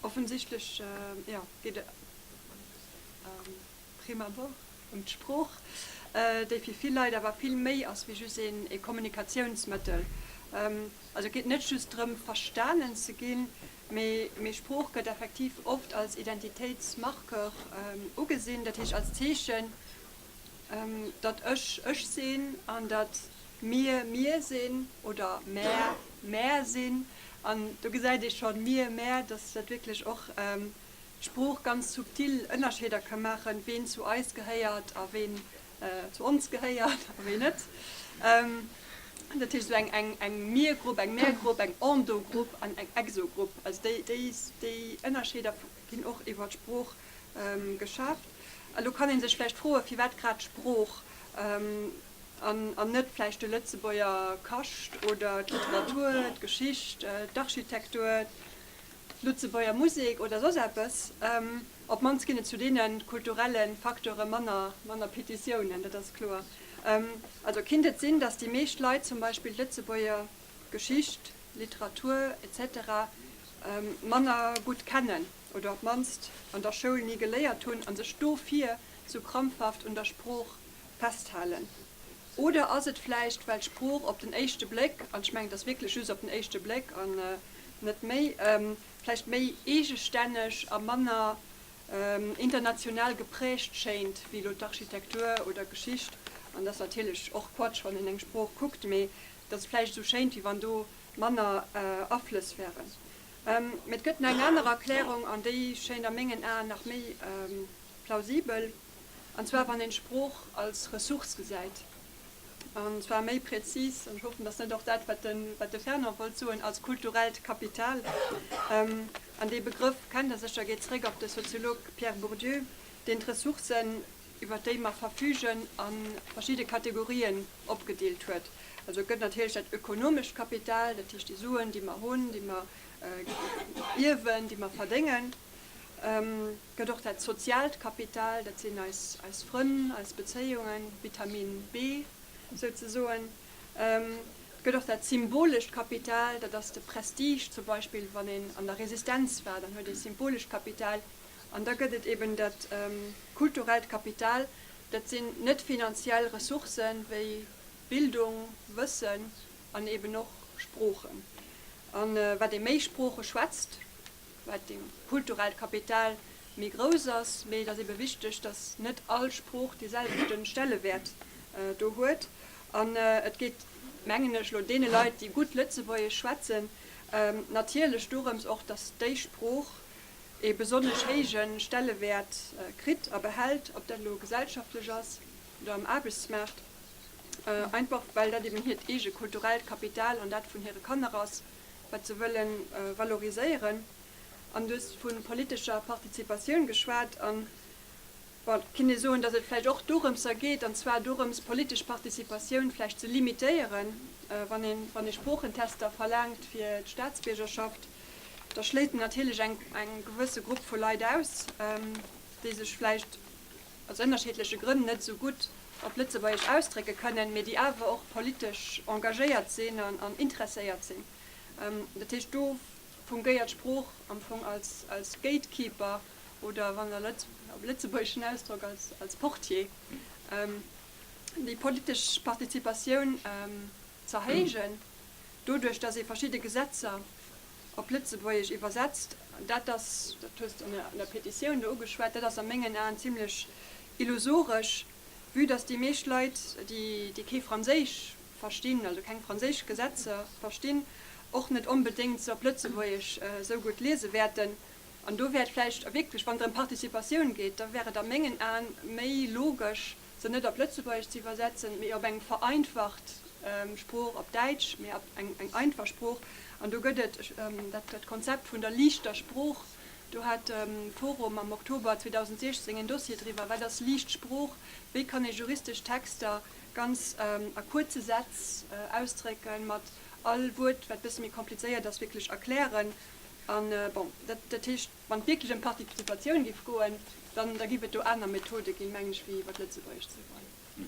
Offensichtlech geet et à prime abord ëm d'Sprooch, déi fir vill Leit awer vill méi ass wéi just ee Kommunikatiounsmëttel. Also et geet net just drëm verstanen ze ginn, mee Sprooch gëtt effektiv oft als Identitéitsmarqueur ugesinn, dat heescht als Zeechen datt ech ech sinn an datt mir mir sinn oder mär mär sinn. An do gesäit ee schonn, mir, mär, datt dat wierklech och d'Sprooch ganz subtil Ënnerscheeder ka maachen, ween zu eis gehéiert a ween zu ons gehéiert a ween net. Dat heescht, esou eng eng Mir-Grupp, eng Mär-Grupp, eng Endo-Grupp an eng Exo-Grupp, also déi déi Ënnerscheeder, ginn och iwwer d'Sprooch geschafft. Elo kann ee sech vläicht froen, firwat grad d'Sprooch an net vläicht de Lëtzebuerger Kascht oder d'Literatur, d'Geschicht, d'Architektur, d'Lëtzebuerger Musek oder soss eppes. Op d'mannst ginn et zu deene kulturelle Facteure manner Petitiounen, dat ass kloer. Also kinnt et sinn, datt déi meescht Leit zum Beispill d'Lëtzebuerger Geschicht, Literatur, etc. Manner gutt kennen oder op d'mannst an der Schoul ni geléiert hunn a sech dofir sou krampfhaft un der Sprooch festhalen? Oder ass et vläicht well d'Sprooch op den éischte Bléck, an ech mengen et ass wierklech just op den éischte Bléck an net méi, vläicht méi eegestänneg a manner international geprägt schéint wéi elo d'Architektur oder Geschicht? An et ass natierlech och Quatsch wann een eng Sprooch kuckt, mee Dat ass vläicht esou schéint, wéi wann do manner Aflëss wären. Mee et gëtt nach eng aner Erklärung, an déi schéint a mengen Aen nach méi plausibel, an zwar wann een d'Sprooch als Ressource gesäit, an zwar méi präzis, an ech hoffen, dat ass net och dat, wat de Fernand wollt soen, als kulturellt Kapital. An dee Begrëff kennt Der sécher, geet zeréck op de Soziolog Pierre Bourdieu, deen d'Ressourcen iwwert déi mer verfügen, a verschidde Kategorien opgedeelt huet. Also et gëtt natierlech dat ökonomescht Kapital, dat heescht déi Suen, déi mer hunn, déi mer ierwen, déi mer verdéngen. Et gëtt och dat soziaalt Kapital, dat sinn eis Frënn, eis Bezéiungen, Vitamin B souzesoen. Et gëtt och dat symbolescht Kapital, dat ass de Prestige zum Beispill. Wann een an der Resistenz war, dann huet ee symbolescht Kapital An da gëtt et eben dat kulturellt Kapital, dat sinn net finanziell Ressourcë wéi Bildung, Wëssen an eben och Sproochen. A wat ee méi Sprooche schwätzt, wat dee kulturellt Kapital méi grouss ass. Mee et ass ebe wichteg, datt net all Sprooch dee selwechte Stellewäert do huet. An et geet, mengen ech, elo deene Leit, déi gutt Lëtzebuergesch schwätzen, natierlech dorëms och, datt déi Sprooch ee besonnesch héije Stellewäert kritt a behält, ob dat elo gesellschaftlech ass oder am Aarbechtsmaart, einfach well dat eben hiert eege kulturellt Kapital an dat vun hire Kanner ass, wat se wëlle valoriséieren. An du hues vu politescher Participatioun geschwat. Bon, et kinnt ee soen, datt et vläicht och dorëmser geet, an zwar dorëms, d'politesch Participatioun vläicht ze limitéieren, wann een, wann ee Sproochentester verlaangt fir d'Staatsbiergerschaft, da schléit een natierlech eng, eng gewësse Grupp vu Leit aus, déi sech vläicht aus ënnerschiddleche Grënn net esou gutt op Lëtzebuergesch ausdrécke kënnen, mee déi awer och politesch engagéiert sinn an interesséiert sinn. Dat heescht, do fungéiert d'Sprooch am Fong als, als Gatekeeper. oder wann der op lëtzebuergeschen Ausdrock als Portier, déi politesch Participatioun z'erhéijen, doduerch datt ee verschidde Gesetzer op Lëtzebuergesch iwwersetzt, dat ass, dat hues de an der Petitioun do ugeschwat, dat ass a mengen Aen zimlech illusoresch, vue datt déi meescht Leit, déi kee Franséisch verstinn, also keng franséisch Gesetzer verstinn, och net onbedéngt se op Lëtzebuergesch esou gutt liese wäerten. An do wär et vläicht wierklech, wann et ëm Participatioun geet, da wär et a mengen Aen méi logesch, se net op Lëtzebuergesch ze iwwersetzen, mee op eng vereinfacht Sprooch, op Däitsch, mee op eng einfach Sprooch. An do gëtt et dat Konzept vun der liichter Sprooch. Do hat de Forum am Oktober 2016 en Dossier driwwer, Wat ass liicht Sprooch? Wéi kann ee juristesch Texter ganz a kuerze Sätz ausdrécken, mat all Wuert, wat e bësse méi komplizéiert ass, wierklech erklären? An, bon, dat heescht, wann et wierklech ëm d'Participatioun géif goen, dann da géif et do aner Methode ginn, mengen ech, wéi iwwer d'Lëtzebuergescht ze goen.